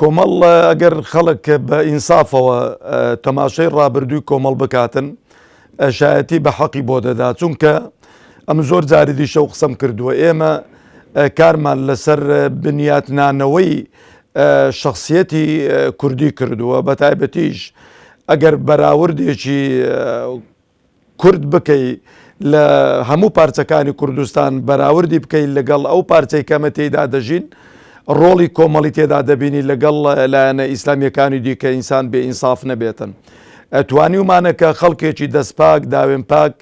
کۆمەڵ ئەگەر خەڵک بە ئینسافەوە تەماشەی ڕابردووی کۆمەڵ بکاتن شایەتی بە حەقی بۆ دەدا چونکە ئەم زۆر جاری دیشە و قسەم کردووە ئێمە کارمان لەسەر بنیاتنانەوەی شخصیەتی کوردی کردووە بە تایبەتیش ئەگەر بەراوردێکی کورد بکەی لە هەموو پارچەکانی کوردستان بەراوردی بکەی لەگەڵ ئەو پارچەی کەمە تێیدا دەژین ڕۆڵی کۆمەڵی تێدا دەبینی لەگەڵ لایەنە ئیسلامیەکانی دیکە ئینسان بێ ئینساف نەبێتن توانیومانە کە خەڵکێکی دەستپاک داوێن پاک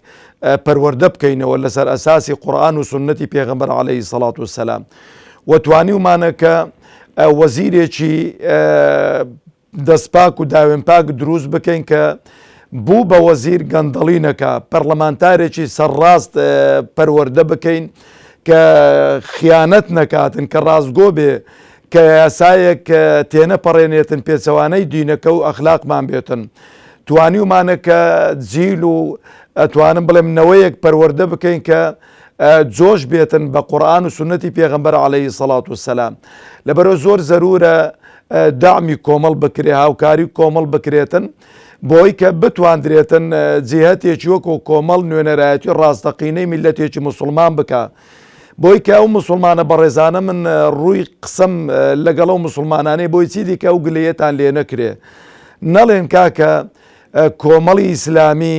پەروەەردە بکەینەوە لەسەر ئەساسی قورآن و سنەتی پێغمبەر عليهەی سەڵات و سەسلام وتوانیومانە کە وەزیرێکی دەستپاک و داوێن پاک دروست بکەین کە بوو بە وەزیر گەندەڵی نەکا، پەرلەمانتارێکی سەرڕاست پەروەردە بکەین کە خیانەت نەکاتن کە ڕاستگۆ بێ کە یاسایەک تێنەپەڕێنێتن پێچەوانەی دینەکە و ئەخلاقمان بێتن توانیومانە کە جیل و ئەتوانم بڵێم نەوەیەک پەروەردە بکەین کە جۆش بێتن بە قورآن و سنەتی پێغمبەر عليهەی سەڵات و سەسلام لەبەرە زۆر زەرورە دەعمی کۆمەڵ بکرێ هاوکاری کۆمەڵ بکرێتن بۆی کە بتواندرێتن جیهتێکی وەکۆ کۆمەڵ نوێنەرایەتی ڕاستەقینەی میلەتێکی مسلمان بکە بۆی کە ئەو مسلمانە بەڕێزانە من ڕووی قسم لەگەڵ و مسلمانانەی بۆی چی دیکە و گلەتان لێ نەکرێ نەڵێن کاکە کۆمەڵی ئیسلامی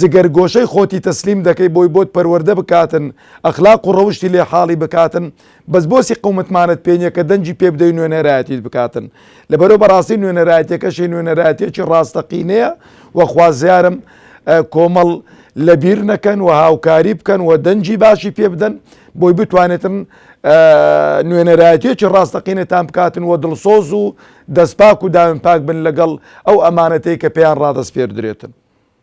جگەر گۆشەی خۆتی تەسلیم دەکەی بۆی بۆت پەروەردە بکاتن ئەخلاق و ڕەوشتی لێ حاڵی بکاتن بەس بۆسی قومتمانت پێ نیە کە دەنگی پێ بدەی نوێنەرایەتیت بکاتن لەبەرو بەڕاستی نوێنەرایەتیەکەشی نوێنەرایەتیەکی ڕاستەقینەیە وە خوازیارم کۆمەڵ لەبیر نەکەن وە هاوکاری بکەن وە دەنگی باشی پێ بدەن بۆی بتوانێتن نوێنەرایەتیەکی ڕاستەقینەتان بکاتن وە دڵسۆز و دەستپاک و داوێن پاک بن لەگەڵ ئەو ئەمانەتەی کە پێیان ڕادەسپێردرێتن.